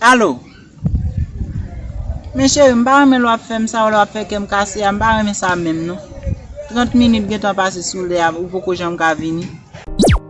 Alo Men cheri m pa renmen lè w ap fè m sa yo lè w ap fè kè m kase a m pa renmen sa menm non 30 minit gentan pase sou lè a ou poko janm ka vini.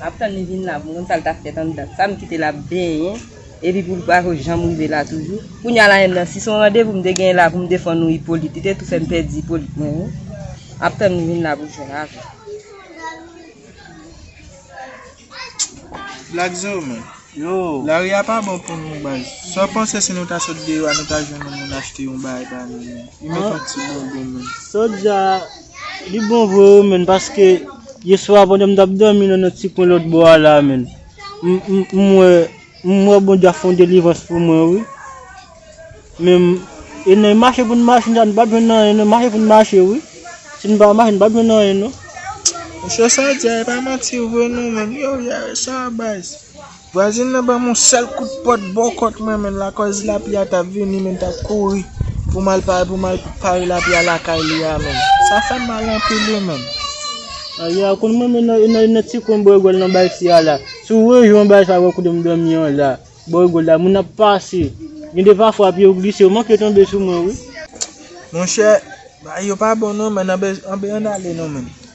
Map tann li vin la pou m konn sa l tap fèt anndan. Sa m kite l ap benyen epi pou l pako janm rive la toujou. Kounya la menm nan si son randevou m te genyen la pou m defann ou Ipolit li te tou fè m pèdi Ipolit mwen wi. Map tann li vin la pou l jwenn avè m. Black zo men. Yo. Lari a pa bon pou nou baz. Sa w panse si nou ta sot deyò a nou ta jwenn yon moun achte yon bay ba nou menm. Li met yon ti bobo menm. Sot deyò a. Li bon vre wi menn paske yeswa pandan m tap domi nan yon ti kwen lòt bò a la menn m wè m wè Bondye ap fè yon delivrans pou mwen wi menm e nan mache pou n mache nou pat jwenn anyen nan mache pou n mache wi si n pa mache nou pat jwenn anyen non. Mesye sa di a e pa manti vre non menn yow yare sa baz. Vwazen nan banm yon sèl kout pòt bò kòt mwen men lakòz lapli a tap vini men tap kouri pou mal pa pou mal pare lapli a lakay li a men sa fèm mal anpil wi men. A ya konn mwen men nan nan nan ti kwen bò rigòl nan bay si a la si w rejwen yon bagay sa wè kote m dòmi an la bò rigòl la moun ap pase gen de pafwa pye w glise yo manke tonbe sou mwen wi. Monchè bagay yo pa bon non men anbe anbe ann ale non men.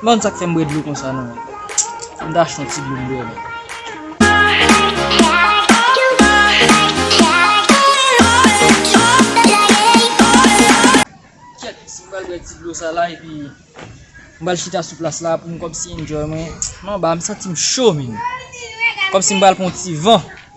M pa konn sak fèm bwè dlo konsa non Fòk m ta achte yon ti dlo m bwè non. Kyèt si m pral bwè ti dlo sa la epi m pral chita sou plas la pou m kòmsi enjoy mwen m anba m santi m cho menn kòmsi m pral pran yon ti van.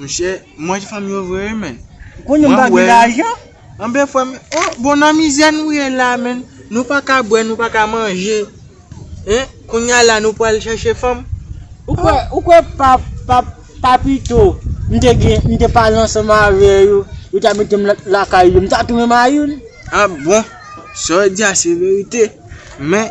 Monchè, mwen fanm yo vre wi menn. Ou konnen m pa gen lajan. Anben frè m, o bon nan mizè nou ye la menn. Nou pa ka bwè, nou pa ka manje. Hein, kounya la nou pral chèche fanm. Ou kwè, ou kwè pa, pa, pa pito m te gen, m te pale ansanm avè yo, yo ta mete m lakay yo, m ta tounen mayoun? Ah bon, sa w di a se verite. Men,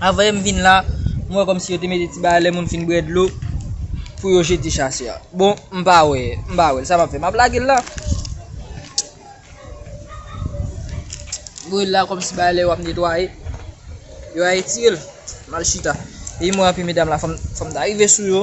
Avè m vin la, m wè kòmsi yo te mete ti bagay lè moun fin bwè dlo pou yo jete chasè a. Bon, m pa wè, m pa wè l. Sa m ap fè? M ap lage l la. Mwen la kòmsi bagay lè yo ap netwaye, yo a etire l. M al chita. Epi m wè anpil medam la, fò m ta rive sou yo.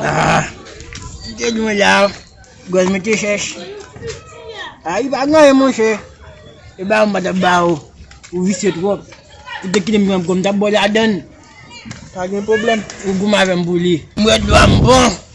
Haa Li te dwe la Gòj mwen te chèch Haa li pa gen anyen monchè E ba ou m pa ta ba ou Ou visye twòp Ou te kite m pran gòm m ta ba w ladann Pa gen pwoblèm Ou goumen avè m pou li Mwen dlo a m bon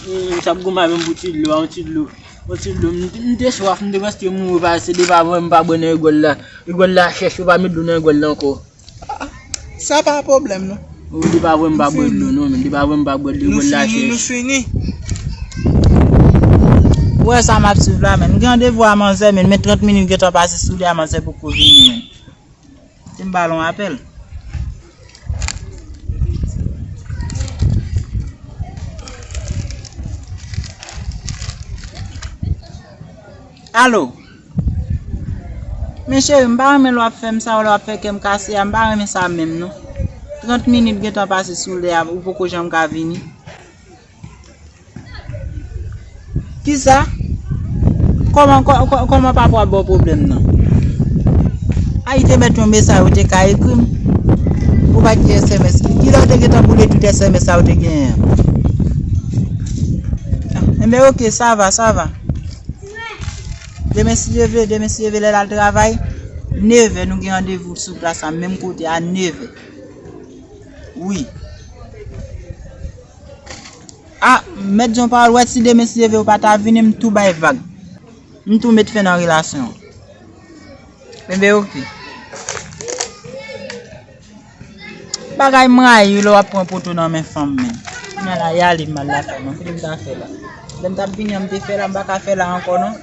Humm sa ap gou mal menm pou ti dlo a, yon ti dlo, yon ti dlo, m te swaf, m te prèske mouri pa se depi avan m pa bwè nan rigòl la, rigòl la chèch yo pa met dlo nan rigòl la ankò. Sa pa pwoblèm non. Ou di pa vwèm pa bwè dlo non menm, di pa vwèm pa bwè dlo rigòl la chèch. Nou fini, nou fini. Ou wè sa m ap swiv la menm, m gen randevou a manzè menm, men 30 minit gentan pase sou li a manzè poko vini menm. Ti balon apèl. Alo! Men cheri m pa renmen lè w ap fè m sa w lè w ap fè kè m kase a m pa renmen sa menm non. 30 minit gentan pase sou lè a ou poko janm ka vini. Kisa? Koman koman papa wap bo problem nan? Ay te met yon mesaj ou te ka ekri m. Ou pa ki SMS. Ki lè ou te gen tan boule tout SMS sa ou te gen an? Enbe ok, sa va, sa va. Demen si Dieu veut, demen si Dieu veut lè lal travay, 9 è nou gen randevou sou plas la menm kote a 9 è. Wi. Ah mèt jon pawòl wè si demen si leve ou pa ta vini m tou bay vag. M tou met fen nan relasyon an. Kenbe ok. Bagay m rayi lè w ap pran poto nan men fanm menn. Kounya la y ale m al la fè non. Kite m ta fè la. Lè m t ap vini an m te fè la m pa ka fè la ankò non.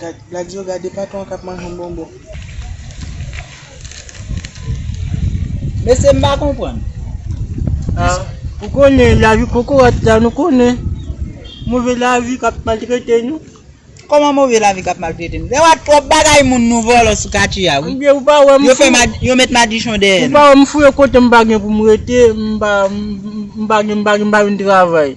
Gad gad yo gade patron an kap manj yon bonbon. Mesye m pa konprann. Ahh ou konnen lavi kokorat la nou konnen move lavi kap maltrete nou. Koman move lavi kap maltrete nou? Lè wap trop bagay moun nou vòlò sou katye a wi. Ebyen ou pa wè m fou. Yo fè madi yo met madichon dèyè nou. Ou pa wè m fou e kote m pa gen pou m rete m pa m pa gen m pa gen m pa vin travay.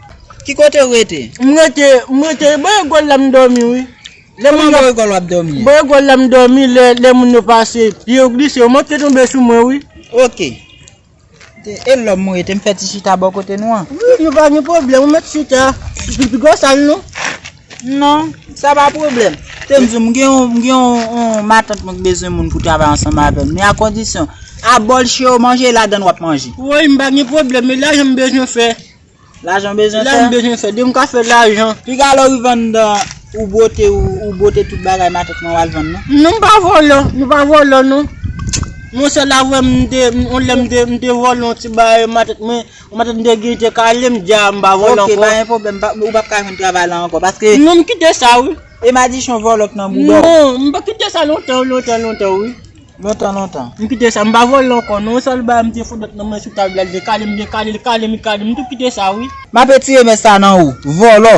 Ki kote ou rete? M rete, m rete, bò Egòl la m dòmi wi. Kouman bò Egòl w ap dòmi an? Bò Egòl la m dòmi, lè moun yo pase, pye yo glise, yo manke tonbe sou mwen wi. Ok. E lò m rete, m fè ti chita bò kote nou an? Wi, yo pa gen pwoblèm, ou mèt chita. Li pi gwo sa l non. Non, sa pa pwoblèm. Tèm di w, m gen yon, m gen yon, yon matant mwen k bezwen moun pou travay ansanm avè m, men a kondisyon, a bòl che yo manje, e ladan l w ap manje. Woy, m pa gen pwoblèm, men lajan m bezwen fè. Lajan bezwen fè. Lajan bezwen fè. Depi m ka fè lajan. Piga lè w rive anndan. Ou bwote ou. Ou bwote tout bagay matant mwen w al vann non. Non m pa vòlò. M pa vòlò non. Mwen sèl avwe m te. Yon lè m te. M te vòlò yon ti bagay matant mwen. Matant mwen te genyen te kale m. M di a m pa vòlò ankò. Ok pa gen pwoblèm. Ou pap ka jwenn travay la ankò. Paske. Non m kite sa wi. E madichon vòlò k nan bouda w. Non. M te kite sa lontan lontan lontan wi. Lontan lontan. M kite sa, m pa vole ankò non, yon sèl bagay m te fout met nan men sou tab la l vle kale m, m te kale l, kale m, kale m, m tou kite sa wi. M ape tire mès sa nan ou, vòlò.